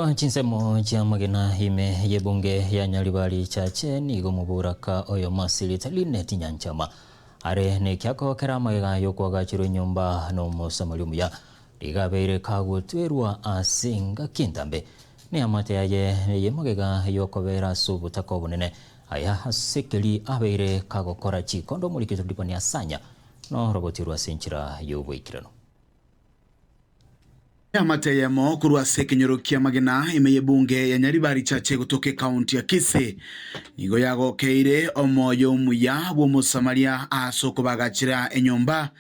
Chinsemo chi'amagena ime y'ebunge ya Nyaribari Church nigo moboraka oyo Marsilit Lynette Nyanchama are nekiako kere amagega y'okwagachirwa enyomba n'omosamari omuya nigo abeire kagotwerwa ase engaki entambe neamate yaye y'emagega y'okobera ase obotaka obonene aya asekeri abeire kagokora chikondo omorikito Dipania Sanya norogoti rwase enchera y'oboikeranu. Eamate eyemo korwa ase ekenyoro ki'amagena ime y'ebunge ya Nyaribari richache egotoka ekaunti ya Kisii nigo yagokeire omoyo omuya bw'Omosamaria ase okobaagachera enyomba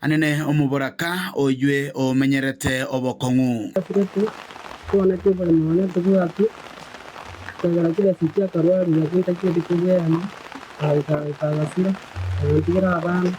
anene omoboraka oyio omenyerete obokong'u. Atureti twaneti oboremo one tobwati ekiagera kere ase chiakarwaria chintaki edike bw'eema, agaika agaika agasira, agantigera abana.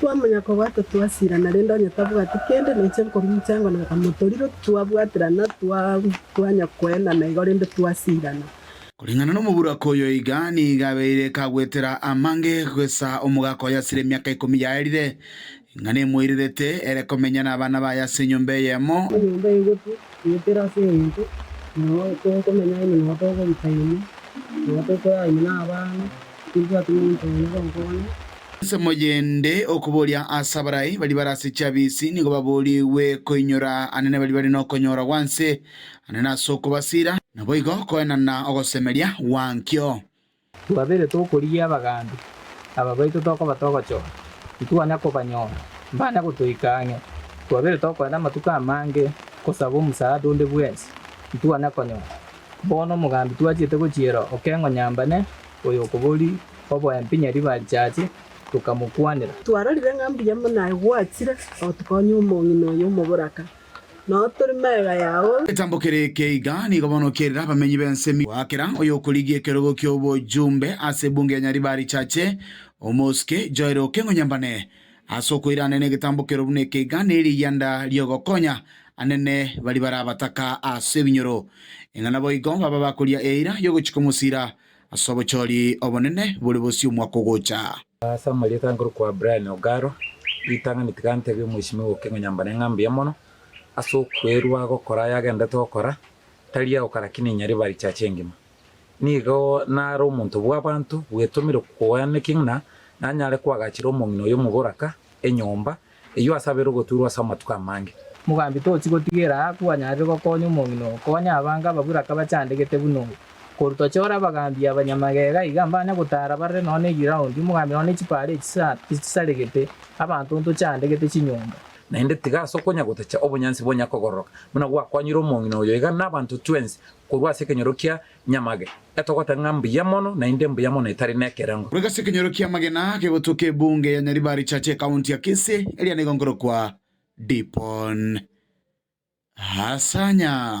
Twamanya kobwata twasirana, rende onye tabwati kende, neche nkomincha engo na Kamotoriro, twabwaterana, twanya koenana igo, rende twasirana. Koreng'ana nomoburaka oyo iga nigo abeire kagwetera amange goisa omogaka oye asire emiaka ikomi yaerire, ng'a nemoirerete ere komenya nabana baye ase enyomba eyemo. Enyomba eye gotu goetera ase engencho nao tokomenya ime nao togobuta ime, nao tokoya ime nabana. Tibwati monto one gonkoonya. Ensemo yende okoboria ase abarai baria bare ase chiabisi nigo baboorigwe koinyora anene baria bare nokonyora gwanse ane nase okobasiira, naboigo koenana ogosemeria gwankio. Twabere tokorigia abagambi, aba baito tokobata ogochora, titwanya kobanyora, mbanya gotoika ang'e. Twabere tokoenda amatuko amange gosaba omosaada onde bwensi, titwanya konyora. Bono omogambi twachiete gochiera okeng'o nyambane Oyokobori oboembi nyaribachache, tokamokwanera. Twarorire ng'a mbuya mono aye gwachire gotokonya omong'ina oyo omoboraka, nao tore mega yao. Eketambo kere eke iga nigo bono kerire abamenyi b'ense emiuo. Goakera oyokorigia ekerogo ki'obojumbe ase ebunge ya Nyaribarichache, Omosuke Joel Okengo Nyambane, Ase okoiraneria negetambo kero buna eke iga neriyanda riogokonya anene baria barabataka ase ebinyoro, ng'a naboigo babe abakoria eira yogochika omosira ase obochori obonene bore bosio omwaka ogocha. Ase amarieta ankorokwa Brian Ogaro, ritang'ani tiga ntebie omweshimiwa Okengo Nyambane ng'a mbuya mono ase okwerua gokora ayagendete gokora, tari agokara ki ninyari bari church engima. Nigo nare omonto bw'abaanto bwetomire koeana ekegina, nanyare koagachera omong'ina oyo omogoraka enyomba eyio ase abeire ogotuurwa ase amatuko amange. Mogambi, tochi gotigera aa kwanyarire gokonya omong'ina oo, konya abange ababuraka bachandegete buna oyo. Korwa tochore abagambi abanyamagega iga mbanya gotaara barore nonya ne giraundi, omogambi nonya ne chipaara echi chisaregete, abanto ntochandegete chinyomba. Naende tiga ase okonya-gotacha obonyansi bonya kogororoka, buna gwakonyire omong'ina oyo, iga nabaanto twensi korwa ase ekenyoro kia nyamage, etogoteba ng'a mbuya mono, naende mbuya mono etari nekerengo. Korwa ase ekenyoro kia magena kegotoka ebunge ya Nyaribari Church ekaunti ya Kisii, eria nigo nkorokwa Dipon Hasanya.